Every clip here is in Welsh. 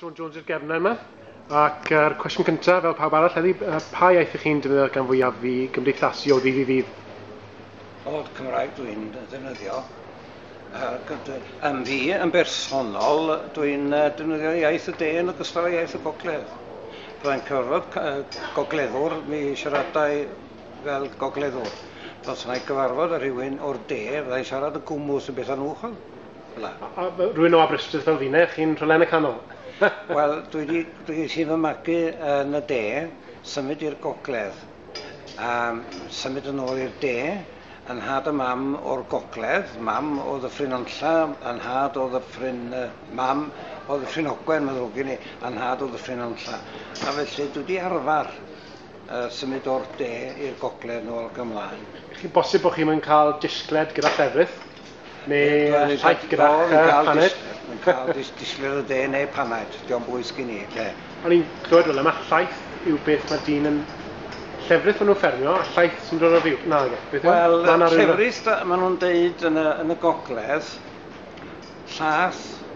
Sean Jones i'r gefnau yma. Ac yr cwestiwn cyntaf, fel pawb arall heddi, pa iaith ych chi'n defnyddio gan fwyaf i gymdeithasu o ddydd i ddydd? Wel, Cymraeg dwi'n defnyddio. Yn fi, yn bersonol, dwi'n defnyddio iaith y de yn ogystal â iaith y gogledd. Byddai'n cyfarfod gogleddwr, mi siaradau fel gogleddwr. Os yna i gyfarfod â rhywun o'r de, fyddai'n siarad y gwmwth yn beth anwchol. Hwna. A, a, rwy'n o Aberystwyth fel fine, chi'n rhywle yn y canol. Wel, dwi wedi dwi wedi fy magu yn y de, symud i'r gogledd, a symud yn ôl i'r de, yn nhad a mam o'r gogledd, mam o Ddyffryn Nantlla, yn nhad o Ddyffryn... Uh, mam o Ddyffryn Ogwen, mae'n ddrwg i ni, yn nhad o Ddyffryn Nantlla. A felly dwi wedi arfer uh, symud o'r de i'r gogledd nôl gymlaen. Chi'n bosib bod chi'n cael disgled gyda llefrith? Mae e'n rhaid gyda hanner. Mae'n cael dis disgwyl y de neu panaid. Dio'n bwys gen i, de. O'n i'n clywed fel yma, llaeth yw beth mae dyn yn llefrith maen nhw'n ffermio, a llaeth sy'n dod o fyw. Na, nage. Beth yw? Wel, llefrith, maen nhw'n deud yn y, yn y gogledd, llaeth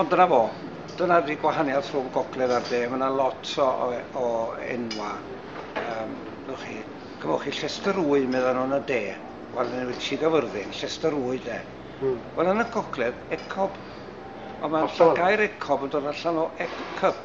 Ond dyna fo. Dyna 'di gwahaniath rhwng gogledd a'r de. Mae yna lot o, o, o enwa. Um, Gwch chi, cymwch chi Llester Wy, meddyn nhw'n y de. Wel, yn wedi si gyfyrddin, Llester Wy, de. Hmm. Wel, yn y gogledd, ecob. Ond mae'n gair ecob yn dod allan o ecub.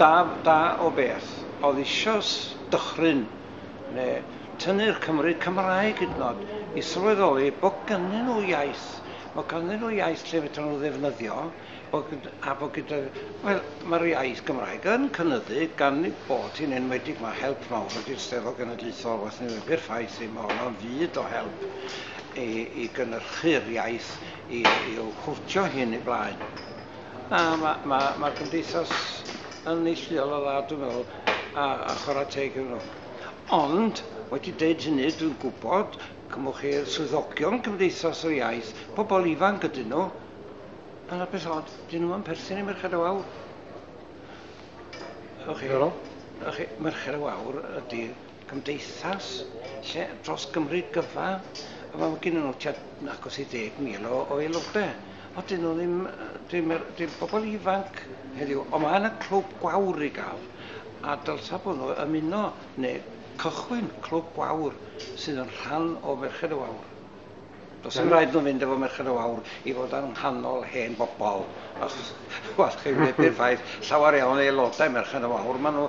Da, da o beth, oedd eisoes dychryn, neu tynnu'r Cymry Cymraeg hyd yn oed, i sylweddoli bod gynnyn nhw iaith, bod gynnyn nhw iaith lle fedrwn nhw ddefnyddio, bod, a bod gyda, wel, mae'r iaith Gymraeg yn cynyddu gan ni bod hi'n enwedig, mae help mawr wedi'r Steddfod Genedlaethol, waeth ni webi'r ffaith i, mae honno'n fyd o help i, i gynnyrchu'r iaith, i, i'w hwtio hyn i blaen. Na, mae ma, ma cymdeithas yn neilltuol o dda, dwi'n meddwl, a, a chwarae teg iddyn nhw. Ond, wedi dweud hynny, dwi'n gwybod, cymwch chi'r swyddogion cymdeithas o iaith, pobl ifanc ydyn nhw, a na beth od, dyn nhw'n perthyn i Merched y Wawr. Ych chi? Ych chi, Merched y Wawr ydy cymdeithas lle dros Gymru gyfa a ma' ma' gennyn nw tua agos i ddeg mil o o aelode a 'dyn nw ddim yy dim yr dim pobol ifanc heddiw on' ma' na clwb gwawr i ga'l a dylsa bo' nw ymuno ne' cychwyn clwb gwawr sydd yn rhan o Ferched y Wawr. Do's dim raid nw fynd efo Merched y Wawr i fod yng nghanol hen bobol achos wel chi wneud perffaith llawer iawn o aelode Merched y Wawr ma' nw